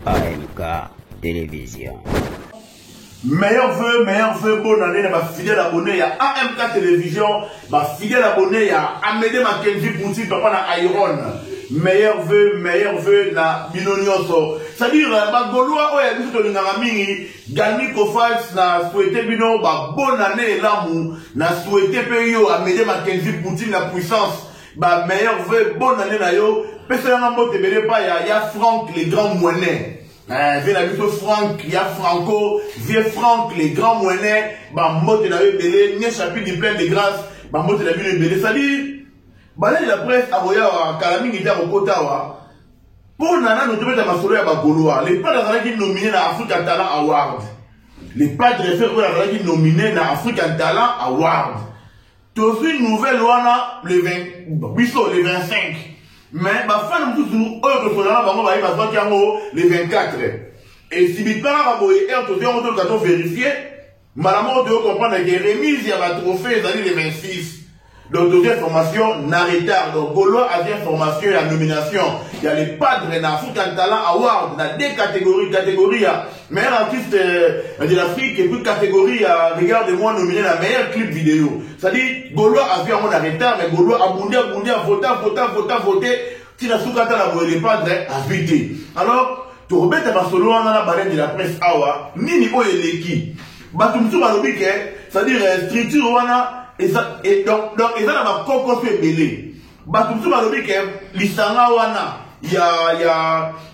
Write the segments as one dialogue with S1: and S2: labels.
S1: AMK Television.
S2: Meilleur vœu, meilleur vœu, bonne année na ba fidèles abonnés ya AMK Télévision, ba fidèles abonnés ya Amédée Mackenzie Poutine, papa na Iron. Meilleur vœu, meilleur vœu na bino nyonso. C'est-à-dire euh, ba Gaulois oyo ya biso tolingaka mingi, Galmi Kofals na souhaiter bino ba bonne année elamu, na souhaiter pe yo Amédée Mackenzie Poutine la puissance. Ba meilleurs vœux, bonne année na yo. Pesa yanga mbote bele pa ya ya Franck le grand moinet. Eh, vie na biso Franck ya Franco, vieux Franck le grand moinet, ba mbote na yo bele, nye chapitre du plein de grâce, ba mbote na bino bele. Salut. Balali la presse aboya wa kala mingi te akokota wa. Mpo na nano tobeta masolo ya bagoloa, le padre azalaki nomine na Africa Talent Award. Le padre Ferre oyo azalaki nomine na African Talent Award. tozwi nouvelle wana le 20 biso le 25 mais bafani mosusu oyo tosolola na bango baye bazwaki yango le 24 esibipaka kaka boye ere tozwi yango toluka to verifie mbala moko toyo comprendre ke remise ya batrophée ezali le 26 donc tozwi information na retard donc golois azwi information ya nomination ya le padre na african talent award na de catégorie catégorie ya Meilleur artiste euh, de l'Afrique et puis catégorie euh, regarde-moi nominé la meilleure clip vidéo. C'est-à-dire Gaulois a vu en retard mais Gaulois a bondé, a bondé, a voté, a voté, a voté, a voté. Tina Soukata la boye dépendre a vité. Alors, tu remets ta solo en la balade de la presse awa, nini oye leki. Bato mosusu balobi ke c'est-à-dire euh, structure wana et donc donc eza na bakoko mpe ebele Bato mosusu balobi ke lisanga wana ya ya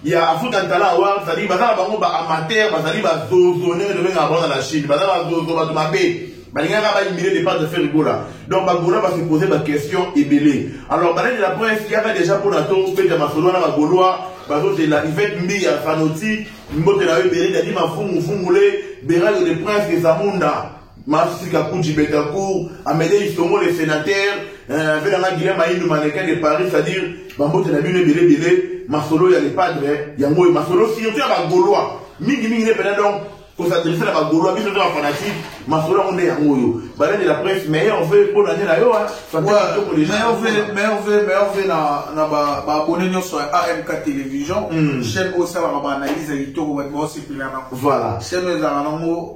S2: ya African Talent Awards ezali baza na bango ba amateur bazali ba zozo ndenge tobengaka bango na Chine baza ba zozo bato mabe balingaka baimile départ de faire gola donc bagola base pose baquestion ebele alors balai de la presse yaka déjà mpo na tobeta masolo wana bagolois bazozela ivete mbi ya fanoti mbote na yo ebele dadi mafungu fungule berayo de prince ezamunda Massi Kakuji Betancourt, Amedei Songo le senateur, euh, vela nga Guilhem Ayindu mannequin de Paris, c'est-à-dire bambote na bino ebele ebele, masolo ya le padre, yango oyo masolo surtout ya ba Gaulois, mingi mingi ne pena donc ko s'adresser na ba Gaulois, biso nde ba fanatique, masolo yango nde yango oyo. Bale de la presse, meilleur vœu mpo na nde na yo, hein. Santé Ouais, kitoko déjà. meilleur vœu, meilleur
S3: vœu, meilleur vœu na na ba ba abonnés nyonso ya AMK Television, Mm. chaîne oyo esalaka ba analyse ya kitoko bato baosepela na Voilà.
S2: chaîne oyo ezalaka
S3: nango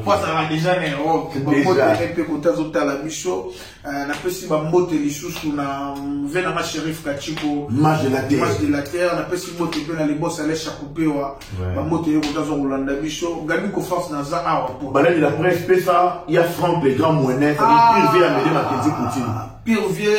S3: mpo azalaka deja na europe bambotele mpe kote azotala biso euh, napesi bambote lisusu na ve nanga sherif kachiko mage de
S2: la terre napesi mbote mpe na
S3: libos ale chakupewa bambote ye kote aza kolanda biso gadi kofas naza awa mpo balandi la presse
S2: pesa ya frank le grand moine pire vie amede makenzi poutine pire vie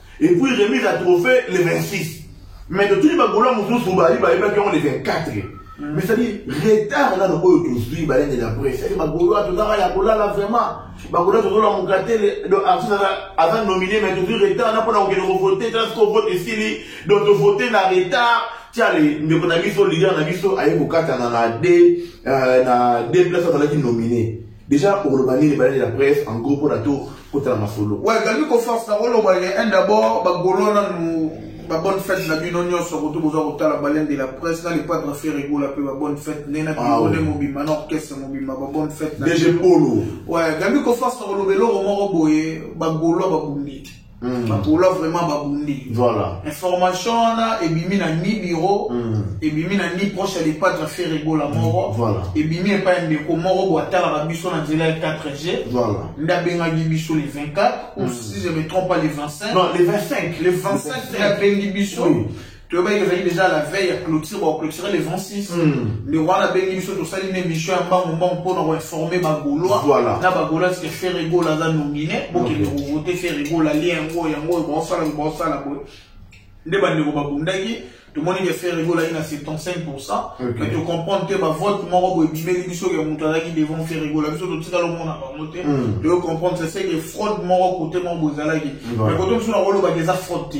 S2: Et puis remise à trophée le 26. Mais de tous les bagoulants mosusu bayi bayebaki yango le 24. Mm. Mais c'est-à-dire retard nano oyo tozwi balende na presse. C'est-à-dire bagolois tozaka ya kolala vraiment. Bagolois tozolamuka te le artiste aza nominé mais tozwi retard na mpona kokende kovote tala siko vote esili donc tovote na retard tiale ndeko na biso leader na biso aye kokatana na de euh, na de place azalaki nominé Deja okoloba nini baleli ya bref en gros mpona to kota na masolo. Ouais, galbi ko force na
S3: koloba ye un d'abord ba golo na nu ba bonne fête na bino nyonso kutu boza kotala balen de la presse na le padre Ferre Gola pe ba bonne fête ne na bino ne mobimba na orchestre mobimba ba bonne fête na. DG Polo.
S2: Ouais, galbi ko
S3: force na koloba eloko moko boye ba golo ba bundi. Mm. bapola vraiment babundi voilà. information
S2: wana
S3: ebimi na ni biro mm. ebimi na ni proche ya lepatre fere ebola mm. moko mm. voilà. ebimi epai ya ndeko moko bo atalaka biso na nzela ya 4g voilà. nde abengaki biso le 24 mm. ou si je me trompe pas le 25 non le 25 le
S2: 25 nde
S3: abengi biso oui. toyebaki ezalaki déjà la veille ya clôture baclôture le 26 le wana abengi biso tosali na émission ya mbangu mbangu mpo na koinforme bagolois Voilà. na bagolois ke ferre gola aza nomine bokende kovote ferre gola lie yango yango oyo baosala oyo baosala boye nde bandeko babundaki tomoni ke ferre gola ye na 75 Ok. mais tocomprendre te bavote moko boye bimeli biso ke moto azalaki devant ferre gola biso totikala omona bango te Mm. toyo comprendre c'est ce que fraude moko kote moko boye ezalaki Voilà. mais kote mosusu nakolobaka eza fraude te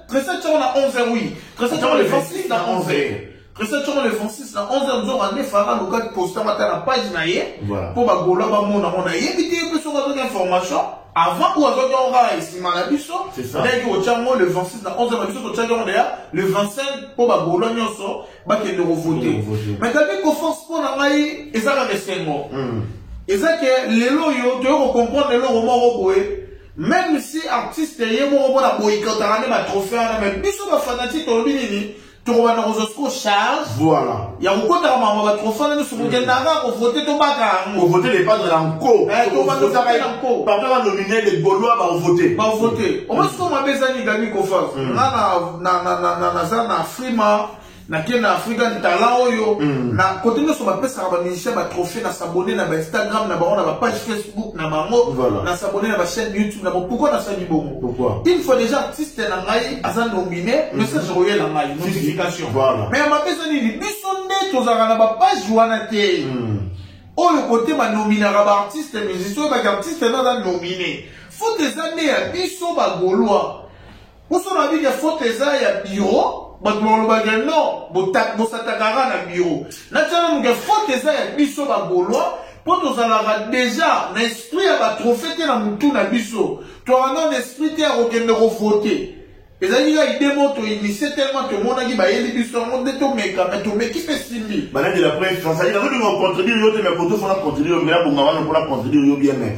S3: Tresor tshoko na 11 heures oui. Tresor tshoko le 26 na 11 heures. Tresor tshoko le 26 na 11 heures nzoka nde fara luka posta mata na page na ye mpo bagola bamona ngo nayebi te mpe soki azoki information avant ou azwaki yango kaka nsima na biso ndeki
S2: kotya yango le 26
S3: na 11 na biso totyaki yango deya le 25 mpo bagolo nyonso bakende kovote mais kabi koforce mpo na ngai eza kaka esengo hmm. eza ke lelo oyo toyei kocomprendre eloko moko boye Meme si artiste ye moko mpo na boycotaka nde ba trophee wana mais biso ba fanatique tolobi nini tokobanda kozwa siko charge voilà ya
S2: kokotaka makambo
S3: ya batrophee wana nyonso kokendaka kaka kovote tobaka yango kovote dependre na
S2: nko eh, tobandaka na
S3: nko papa ba nomine les
S2: gaulois baovote baovote omoi
S3: siko mabe ezani gani kofa mm. nga naza na frima nake na african talent oyo mm. na kote nyonso bapesaka bamusicien batrophée na sabone na bainstagram na bango na bapage facebook na bango voilà. na sabone na bachaîne youtube na bango pourkoi nasali bongo une fois déjà
S2: artiste
S3: na ngai aza nomine mm-hmm. message okoyela ngai notification voilà. mais mabe eza nini biso nde tozalaka na bapage wana te mm. oyo kote banominaka baartiste musicien oyo baki artiste na aza nomine faute eza nde ya biso bagolois Poso na bike faute eza ya bureau bato balobaka ke non bosatakaka na bureau natia nanu ke faute eza ya biso bagolois mpo tozalaka deja na esprit ya batrofe te na motu na biso tozalaka nano na esprit te ya kokende kovote ezalaki kaka ide moko toinisie tellement tomonaki bayeli biso yango nde tomeka me tomeki mpe simbi banadela prefasali
S2: nazolinga kocontredire yo te me koto fona contredire yo me nabonga wana mpona contredire yo bien me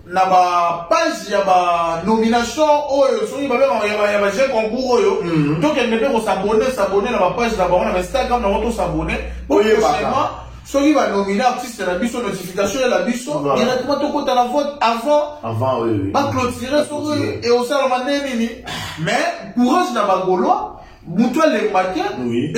S3: na ba page ya ba nomination oyo soki babengaka ya ba- ya ba jeu concours oyo Mhm. tokende mpe kosabone sabone na ba page na bango na ba instagram na bango tosabone po Oyebaka. prochainement soki banomine artiste na biso notification ela biso Voilà. directement tokota na vote avant Avant, oui, oui. baclotire
S2: soki
S3: Clôturer. eosalama nde nini mais courage na bagolois moto alemba te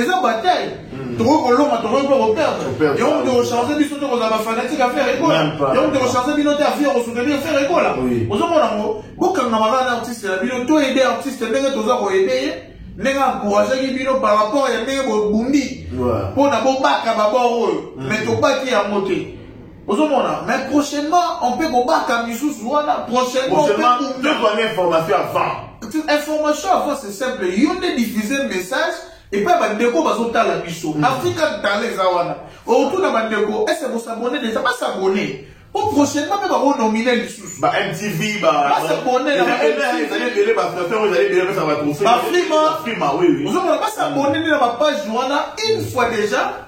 S3: eza bataille hmm. tokoki kolonga tokoki mpe koperdre yango moto ekochange biso te kozala bafanatique ya fere ekola yango moto ekochange bino te afi ya kosoutenir fere ekola ozomona yango bokanga maka na artiste na bino to aide artiste ndenge toza koyede ye ndenge encourageaki bino par rapport ya ndenge bobundi mpo na bobaka babor oyo mai hmm. tobaki yango te ozomona mais prochainement on peut kobaka misusu wana prochainement tozwa information
S2: avant information
S3: avant c'est simple yo nde diffuse message epai bandeko bazotala biso mm. afrika tala eza wana otuna bandeko ese bosabone deja basabone po prochainement mpe bakonomine lisusu bamtv
S2: basabone bafrima ozomona basabone
S3: nde na bapage wana une fois déjà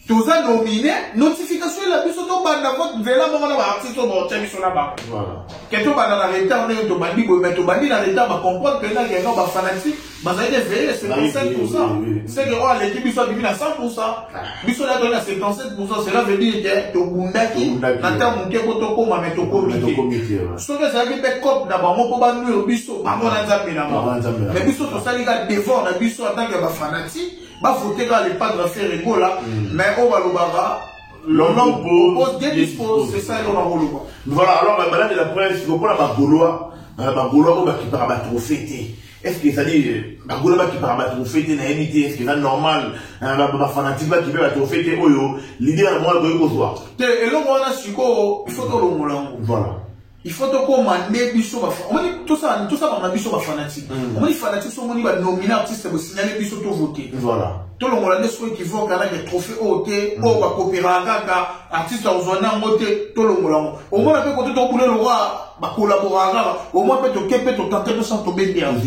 S3: toza domine notification ela biso tobanda vote nzela moko na baartiste oyo baotya biso na bango ke tobanda na retard ndenge tobandi boye mai tobandi na retard bacomprendre mpenza kenga bafanatique bazali deveille 55 pourcent seke oyo aleki biso abimi na 100 pourcent biso na toli na 77 pourcent cela veut dire ke tobundaki na ntango moke mpo tokóma mai tokomi te soki ezalaki mpe cope na bango mpo banuire biso bango na nzambe na bango mai biso tosali ka devort na biso en tant ke bafanatique ba voter kaka le padre ferre gola mm. mais oyo balobaka l'homme propose Dieu dispose c'est ça eloko nakoloba voilà alors euh, madame
S2: de la presse lokola bagolois euh, bagolois oyo bakipaka batrophée te est ce que ezali euh, bagolois bakipaka batrophée te nayebi te est ce que eza normal bafanatique bakipe batrophée te oyo lider na mwana koki kozwa te eloko wana
S3: sikoyo il faut tolongola yango voilà
S2: il faut
S3: tokoma nde biso omoni tosala tosala biso bafanatique mm. omoni fanatique so omoni banomine artiste bosignale biso tovote tolongola nde soki kivoke anake trophée oyo te mm. oyo bakoperaka kaka artiste akozwa nango te tolongola yango omona mpe kote tokule lokwa bakolaboraka kaka omoi mpe toke mpe totante tosa tobende yango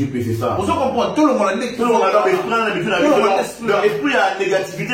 S3: ozo comprendre
S2: tolongola
S3: nde
S2: esprit ya négativité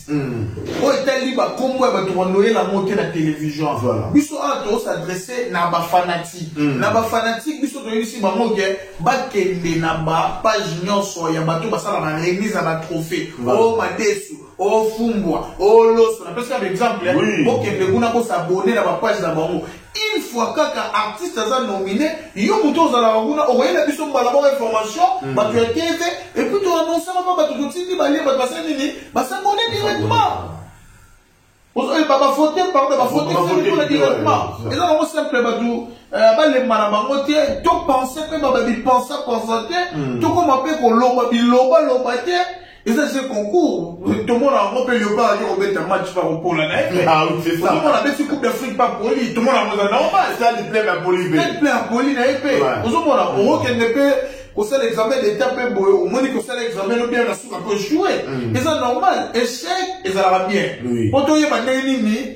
S3: Hum. oyo etali bakombo ya bato banoyela yango te na television voilà. biso awa tosadresse na bafanatike mm. na bafanatike biso toyebisi bango ke bakende na bapage nyonso ya bato basalaka remise ya batrophée voilà. o oh, madesu o oh, fumbwa o oh, loso napesaka baexemple eh. oui. bokende kuna bosabone na bapage na bango Une fois kaka artiste aza nomine, yo mutu ozalaka kuna okoyela biso mbala moko information, batu ya TV, et puis to annoncer mama batu totindi ba lien batu basali nini? Ba s'abonner directement. Ozo yeba ba voter pardon, ba voter fini kuna directement. Eza nango simple batu eh, balemba na bango te, to penser pe ba ba bi pensa pensa te, tokoma pe kolomba biloba loba te. eza se concours tomona yango mpe leopard ake kobeta match pa kopola na ye ah tomona abeti
S2: coupe d'afrique
S3: pa poli tomona yango eza normal stade plein ya poli
S2: mpe stade plein ya poli na ye
S3: mpe ozomona okokende mpe kosala examen d'état mpe boye omoni kosala examen no bien na suka mpe joue eza normal échec ezalaka bien mpo toyeba ndenge nini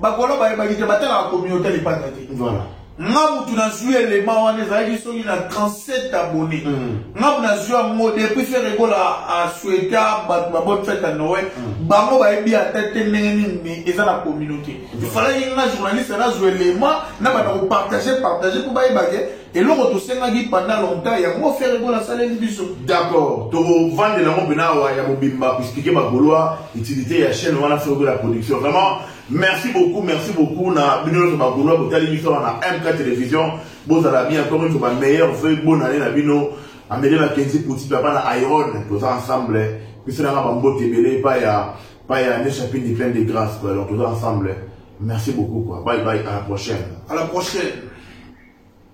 S2: bakolo bayebaki te batalaka communauté ya lipanda te voilà
S3: nga mutu nazwi elema wana ezalaki soki na 37 abonné mm. nga mutu nazwi yango depuis fere ekola asueta bato babone fete ya noel mm. bango bayebi ata te ndenge nini me eza na communauté ifalaki mm. nga journaliste nazwa elema na bana kopartage partage mpo bayebake Eloko tosengaki pendant longtemps yango Ferre Gola asaleli biso. D'accord,
S2: tokovandela yango mpena awa ya mobimba koexplike ba Golois utilite ya chaine wana Ferre Gola production. Vraiment merci beaucoup, merci beaucoup na bino nionso ba Golois botali biso awa na MK Television. Bozala bien encore une fois ba meilleurs vœux bonne annee na bino. Amelie Mackenzie Pouti papa na Iron toza ensemble. Biso na nga ba mbote ebele epai ya epai ya Ne Chapindi plein de grâce quoi. Donc toza ensemble. Merci beaucoup quoi. Bye bye à la prochaine.
S3: À la
S2: prochaine.